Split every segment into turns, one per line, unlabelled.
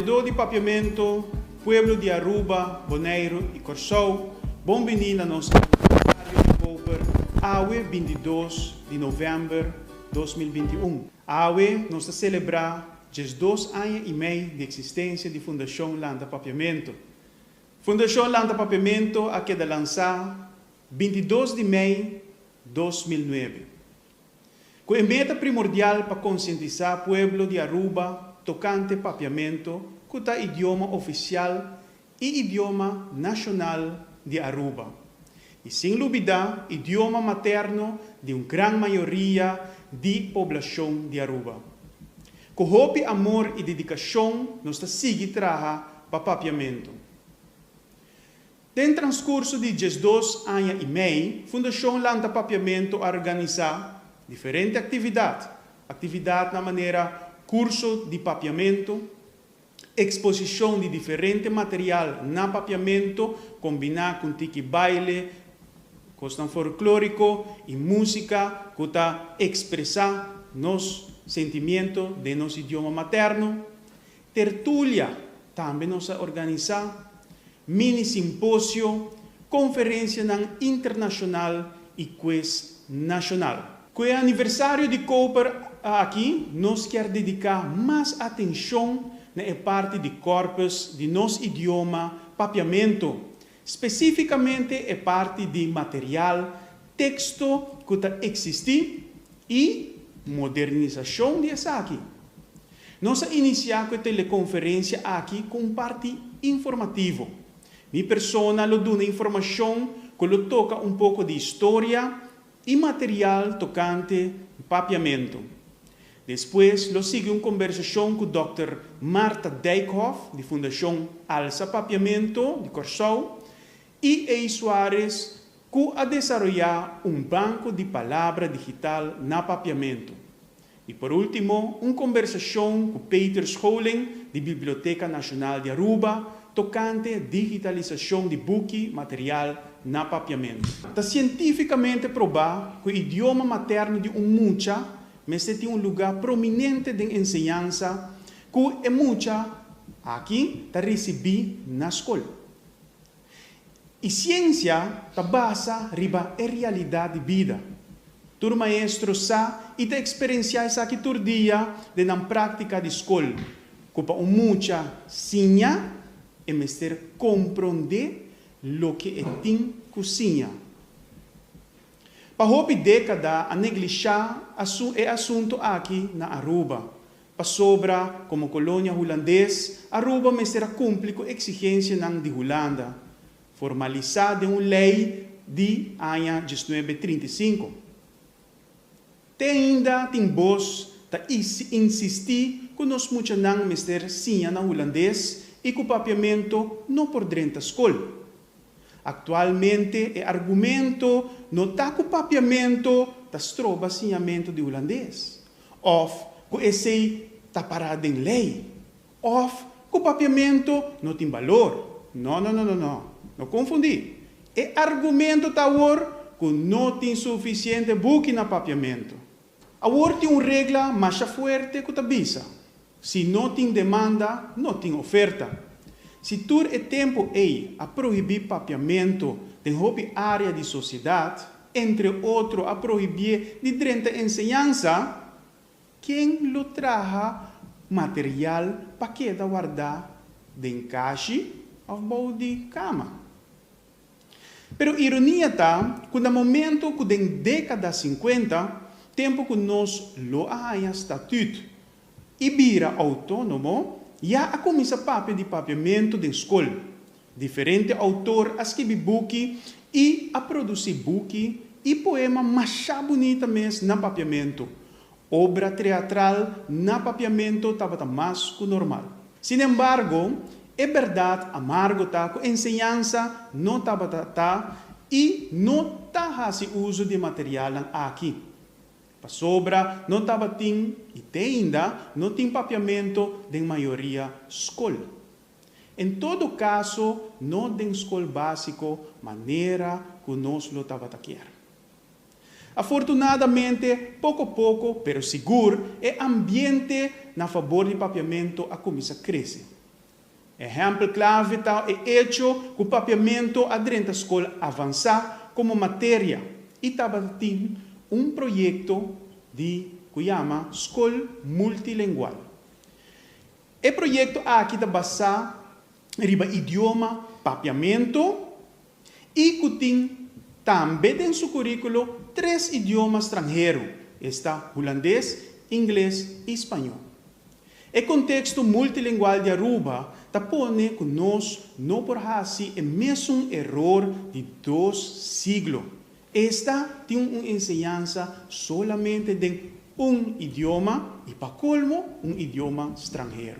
Papiadó di Papiamento, Pueblo di Aruba, Boneiru i Kòrsou, bon biní na nos Aniversario di Koper, awe binti dos di November dos mil binti i un. Awe nos ta selebrá diesdos aña i mei di eksistensia di Fundashon Lanta Papiamento. Fundashon Lanta Papiamento a keda lansá binti dos di mei dos mil nuebe, ku e meta primordial pa konsientisá pueblo di Aruba tokante papiamentu ku ta idioma ofisial i idioma nashonal di Aruba, i sin lubidá idioma materno di un gran mayoria di poblashon di Aruba. Ku hopi amor i dedikashon nos ta sigui traha pa papiamentu. Den transcurso di diesdos aña y mei, Fundacion Lanta Papiamento a organisa diferente actividad, actividadnan manera curso di papiamento, exposicion di diferente material na papiamento combina cu tiki baile, cosnan folclorico y musica cu ta expresa nos sentimiento den nos idioma materno, Tertulia, Tambe nos a organisá mini simposio, konferensianan internashonal i kues nashonal. Ku e aniversario di Koper aki nos kier dediká mas atenshon na e parti di kòrpus di nos idioma, papiamentu, Spesífikamente e parti di material teksto ku ta eksistí i modernisashon di esaki. Nos a inisiá ku e telekonferensia aki ku un parti informativo. Mi persona lo duna informashon ku lo toka un poko di historia i material tokante mpapiamentu. Despues lo sigui un kombersashon ku dòkter Martha Dijkhof di Fundashon Alsa Papiamento di Kòrsou i Ey Suarez ku a desaroyá un banko di palabra digital na papiamentu. I por ultimo, un kombersashon ku Peter Scholing di Biblioteka Nashonal di Aruba tokante digitalisashon di buki material na papiamentu. Ta sientífikamente probá ku e idioma materno di un mucha mester tin un lugá prominente den enseñansa ku e mucha aki ta risibí na skol. I siensia ta basa riba e realidat di bida. Tur maestro sa i ta eksperensiá esaki tur dia den nan práktika di skol, ku pa un mucha siña e mester komprondé loke e tin ku siña. Pa hopi dékada a neglishá e asuntu aki na Aruba, Pasobra, komo kolonia hulandes, Aruba mester a kumpli ku eksigensianan di Hulanda, formalisá den un lei di aña diesnuebe trinta i sinku. Te ainda tin bos ta insistí ku nos muchanan mester siña na hulandes i ku papiamentu no por drenta skol. Aktualmente e argumento no ta ku papiamentu ta stroba siñamentu di hulandes, Òf ku esei ta pará den lei. Òf ku papiamentu no tin balor. Nò, nò, nò, nò, nò. No konfundí. E argumentu ta awor ku no tin sufisiente buki na papiamentu. Awor tin un regla masha fuerte ku ta bisa, Si no tin demanda, no tin oferta. Si tur e tempu ei a prohibí papiamentu den hopi área di sosiedat, entre otro a prohibié di drenta enseñansa, ken lo traha material pa keda wardá den kashi òf bou di kama? Pero ironia ta ku na momentu ku den dékada sinkuenta, tempu ku nos lo a haña statüt i bira outónomo, ya a kuminsá papia di papiamentu den skol. Diferente outor a skibi buki i a produsí buki i poema mashá bunita mes na papiamentu. Obra treatral na papiamentu tabata mas ku normal. Sin embargo, e bèrdat amargo ta ku enseñansa no tabata ta i no ta hasi uso di e materialnan aki. Pasobra no tabatin, i te ainda no tin papiamentu den mayoria skol. En todo kaso no den skol básiko manera ku nos lo tabata kier. Afortunadamente poko poko pero sigur e ambiente na fabor di papiamentu a kuminsá krese. Ehèmpel klave ta e echo ku Papiamentu a drenta skol avansá komo materia i tabata tin un proyekto di ku yama Skol Multilengual. E proyekto aki ta basá riba idioma Papiamentu. y cu tin tambe den su curiculo tres idioma stranhero, esta, Hulandes, Ingles y Spañol. E contexto multilingual di Aruba ta pone cu nos no por haci e mesun eror di dos siglo, esta tin un enseñansa solamente den un idioma y pa colmo un idioma stranhero.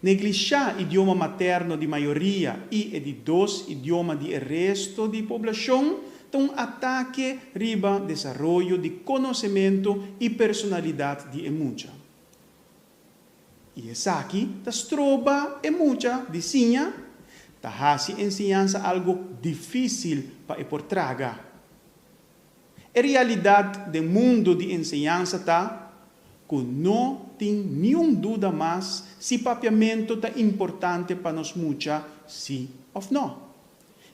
Neglishá idioma materno di mayoria i e di dos idioma di e resto di poblashon ta un atake riba desaroyo di konosementu i personalidat di e mucha. I esaki ta stroba e mucha di siña, ta hasi enseñansa algu difísil pa e por traga. E realidat den mundu di enseñansa ta ku no tin niun duda mas si papiamentu ta importante pa nos mucha, si òf nò.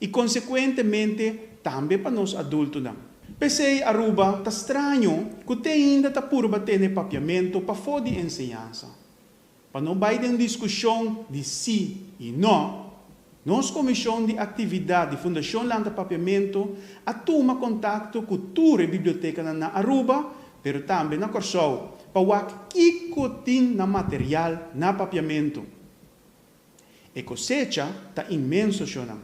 I konsekuentemente tambe pa nos adultunan. P'esei Aruba ta straño ku te ainda ta purba tene papiamentu pafó di enseñansa. Pa no bai den diskushon di sí i no, nos Komishon di Aktividat di Fundashon Lanta Papiamentu a tuma kontakto ku tur e bibliotekanan na Aruba, pero tambe na Kòrsou, pa wak kiko tin na material na papiamentu. E kosecha ta inmenso, shownan.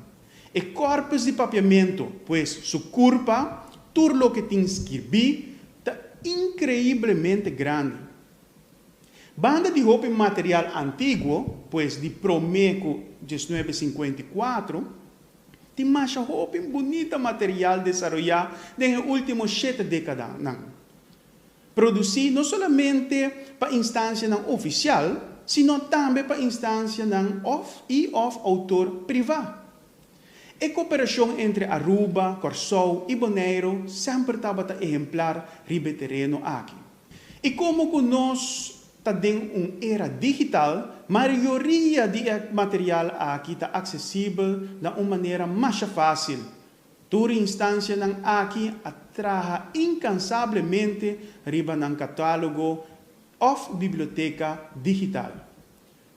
E kòrpus di papiamentu, pues su kurpa, tur loke tin skirbí, ta inkreiblemente grandi. Banda di hopi material antiguo, pues di promé ku diesnuebe sinkuenta i kuatro, tin masha hopi bunita material desaroyá den e último shete dékadanan, produsí no solamente pa instansianan ofisial, sino tambe pa instansianan òf i òf outor privá. E koperashon entre Aruba, Kòrsou i Boneiru semper tabata ehemplar riba e tereno aki. I komo ku nos ta den un era digital, mayoria di e material aki ta aksesibel na un manera masha fásil. Tur instansianan aki a traha inkansablemente riba nan katálogo òf biblioteka digital.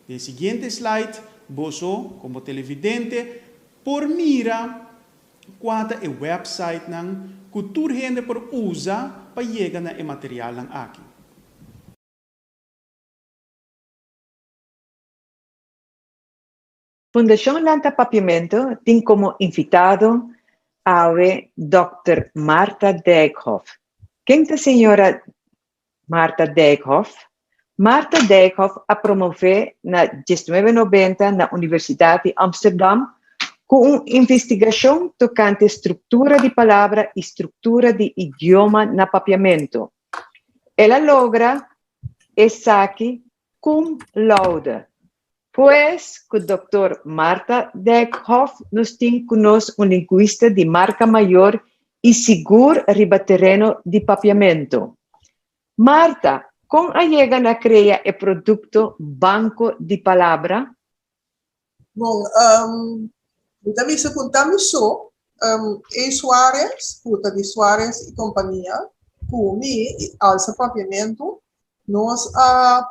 Den siguiente slide boso, komo televidente, por mira Kua ta e websitenan ku tur hende por usa pa yega na e materialnan aki? Fundashon Lanta Papiamentu tin komo invitado awe Dòkter Martha Dijkhof. Ken ta señora Martha Dijkhoff Martha Dijkhoff a promové na diesnuebe nobenta na Universidat di Amsterdam ku un investigashon tokante struktura di palabra i struktura di idioma na papiamentu. El a logra esaki Cum laude. Pues cu Doctor Martha Dijkhoff nos tin cu nos un linguista di marca mayor y sigur riba tereno di papiamento. Martha, con a yega na crea e producto Banco di Palabra? Bon, mi ta bisa ku ta mi so, e Suarez, ku ta di Suarez i kompania, ku mi i Alza Paviamentu, nos a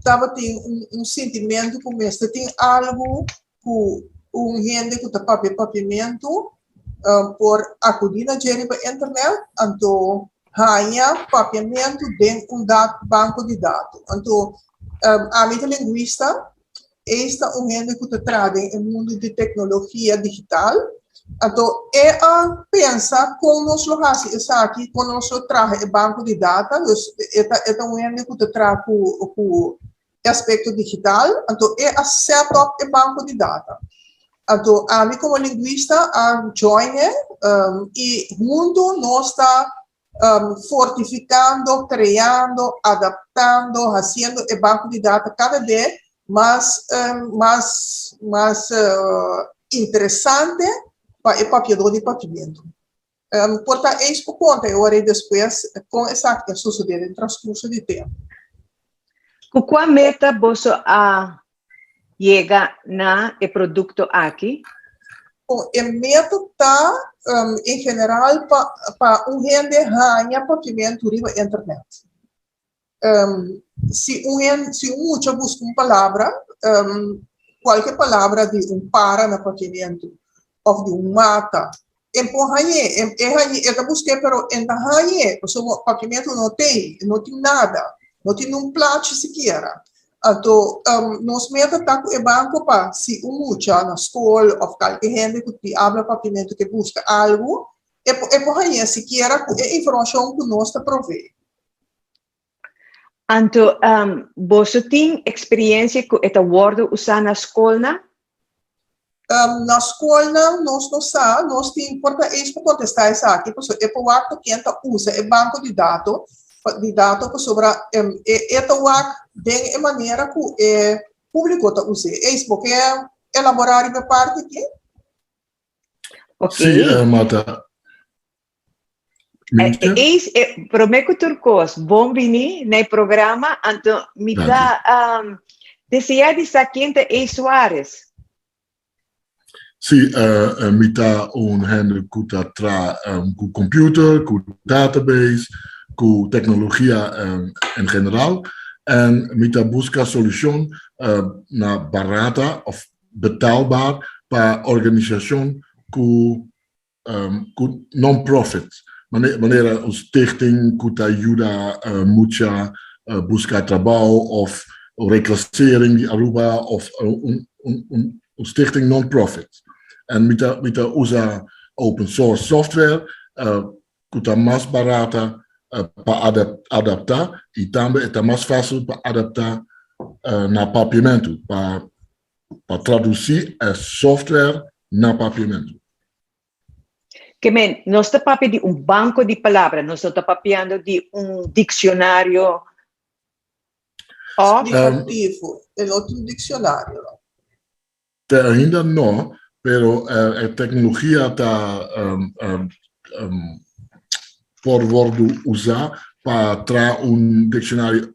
tabatin un sintimentu ku mester tin algu ku un hende ku ta papia paviamentu por akudí na dje riba internet, anto haña papiamentu den un dat banko di datu. Anto, ami ta lingwista, eis ta un hende ku ta traha den e mundu di teknologia digital, anto e a pensa kon nos lo hasi esaki, kon nos lo traha e banko di data, e ta un hende ku ta traha ku. e aspekto digital, anto e a sèt òp e banko di data. Anto ami komo linguista a join e i huntu nos ta fortifikando, kreando, adaptando, hasiendo e banko di data kada be mas mas mas interesante pa e papiadó di papimentu. Por ta eis ku konta e ora i despues kon esakto a sosodé den transkurso di tempu. Ku kua meta boso a yega na e produkto aki? Kon e meta ta en general pa un hende haña papimentu riba internet? Si un hende, si un mucha buska un palabra, kualke palabra di un para na pakementu òf di un mata, e por hañ'é, e hañ'é, e ta busk'é pero e ta hañ'é pasobra pakementu no tin, e no tin nada, no tin un plachi sikiera. Anto nos meta ta ku e banko pa si un mucha na skol òf kalke hende ku tin habla pakementu ke buska algu, e por hañ'é sikiera ku e informashon ku nos ta provee. Anto um boso tin experiencia cu e ta wordo usa na scolnan? Um, na scolnan nos no sa, nos tin por ta eis pa contesta esaki, pasobra e por wak ta ken ta usa e banco di dato, di dato pasobra um e e ta wak den e manera cu e publico ta usa e eis. Bo ke elabora riba e parti aki? Okay. Si, Martha. Liefde? E, is, e, promé ku tur kos, bon bini na e programa, anto mi ta Danki. um, deseá di sa ken ta Ace Suarez. Si, eh, eh, mi ta un hende ku ta tra em, ku computer, ku database, ku teknologia em, en general. En mi ta buska solushon eh, na barata of betaalbaar pa organisashon ku ku non-profit, manera un stichting ku ta yuda mucha buska trabou òf reklasering di Aruba òf un stichting non-profit. En mi ta usa open source software ku ta mas barata pa adaptá i tambe e ta mas fásil pa adaptá na papiamentu pa pa traduci e software na papiamentu. Ke men, nos ta papia di un banko di palabra, nos no ta papiando di un diksionario òf. Signifikativo, e no ta un diksionario no. Te ainda no, pero e teknologia ta por wòrdu usá pa traha un diksionario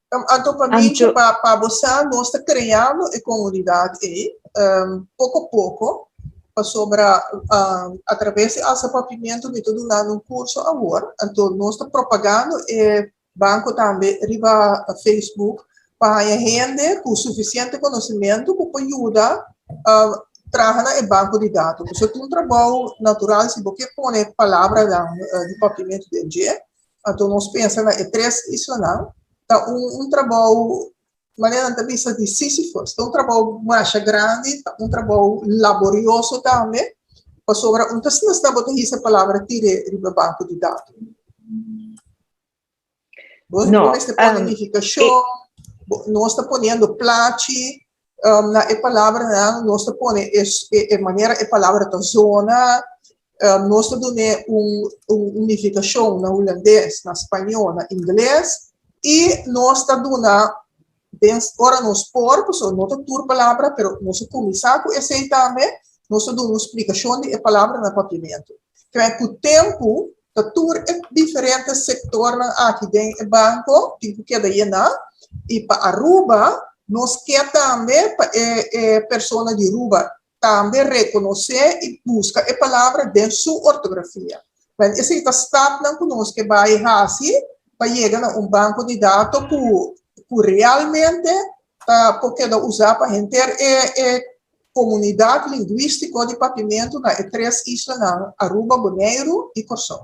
Am Anto, pa mi cu pa pa bo sa nos ta creando e comunidad ey poco poco pasobra a traves di Alza Pavimentu mi ta dunando un curso awor anto nos ta propagando e banco tambe riba Facebook pa haya hende cu suficiente conocimento cu por yuda traha na e banco di dato pasobra ta un trabao natural si bo ke pone palabranan di Pavimentu den dje Anto nos pensa na e tres islanan. Ta un trabou, manera nan ta bisa di Sísifus. Ta un trabou masha grandi, ta un trabou laborioso tambe, pasobra un ta sna-sna bo ta hisa e palabra tire riba e banko di datu. Bo mester pone nifikashon, nos ta poniendo plachi, Na e palabranan nos ta pone e manera e palabra ta zona, nos ta dun'é un nifikashon na hulandes, na spañó, na ingles i nos ta duna den ora nos por, pasobra no ta tur palabra pero nos a kuminsá ku esei tambe, nos ta duna un splikashon di e palabranan papiamentu. Kòrè ku tempu Ta tur e diferente sektornan aki den e banko tin ku keda yená i pa Aruba nos ke tambe pa e e persona di Ruba tambe rekonosé i buska e palabra den su ortografia. Wèl esei ta stapnan ku nos ke bai hasi pa yega na un banko di dato ku ku realmente ta por keda usá pa henter e e Komunidat Lingwistiko di Papimentu na e tres islanan Aruba, Boneiru i Kòrsou.